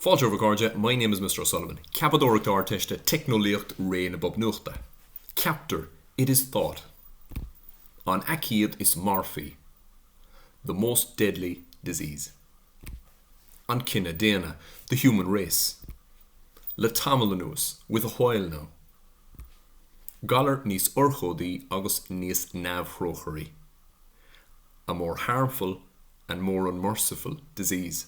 Fáilte romhaibh a chairde, My name is Mister O'Sullivan, Ceapadóireacht Ardteiste, Teicneolaíocht, Ré na mBob Nuachta. Ceaptar It is thought an aicíd is marfaí The most deadly disease an cine daonna The human race le tamall anuas With a while now galar níos urchóidí agus níos neamhthrócairí A more harmful and more unmerciful disease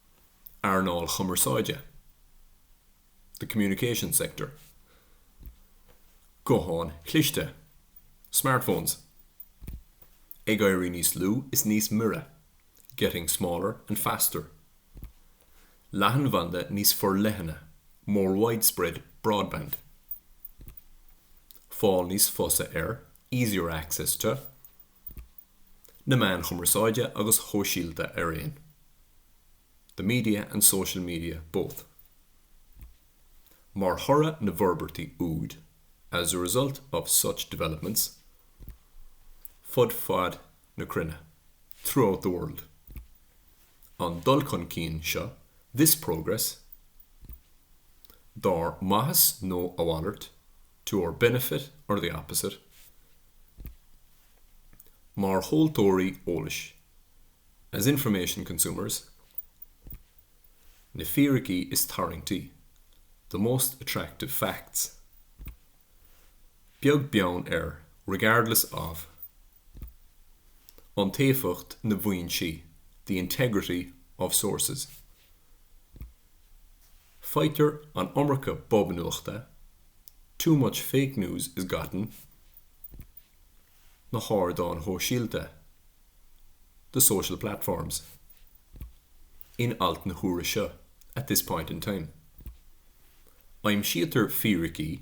earnáil chumarsáide the communications sector gutháin chliste smartphones ag éirí níos lú is níos mire getting smaller and faster leathanbhanda níos forleithne more widespread broadband fáil níos fusa ar easier access to na meáin chumarsáide agus shóisialta araon the media and social media both Mar thoradh na bhforbairtí úd As a result of such developments fud fad na cruinne throughout the world An dul chun cinn seo This progress Dár maitheas nó a mhalairt, to our benefit or the opposite Mar thomhaltóirí eolais As information consumers Na fíricí is tarraingtí The most attractive facts Beag beann ar Regardless of Iontaofacht na bhfoinsí The integrity of sources. Faightear an iomarca bob nuachta, too much fake news is gotten na hardáin shóisialta, the social platforms in alt na huaire seo, at this point in time. Aimsítear fíricí.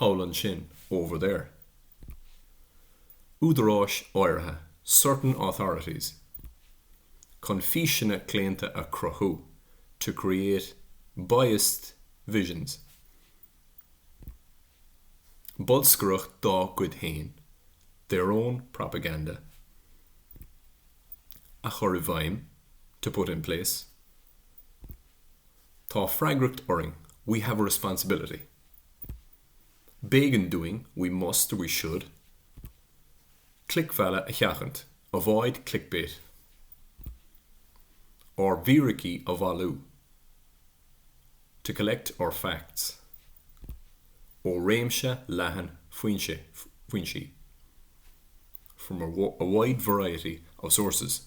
thall ansin, over there. údaráis áirithe, certain authorities. chun físeanna claonta a chruthú, to create biased visions. bolscaireacht dá gcuid féin, their own propaganda. a chur i bhfeidhm, to put in place. Tá freagracht orainn, we have a responsibility. B'éigean dúinn, we must, or we should, clicmhealladh a sheachaint, avoid clickbait. Ár bhfíricí a bhailiú, to collect our facts. Ó réimse leathan foinsí, from a wide variety of sources.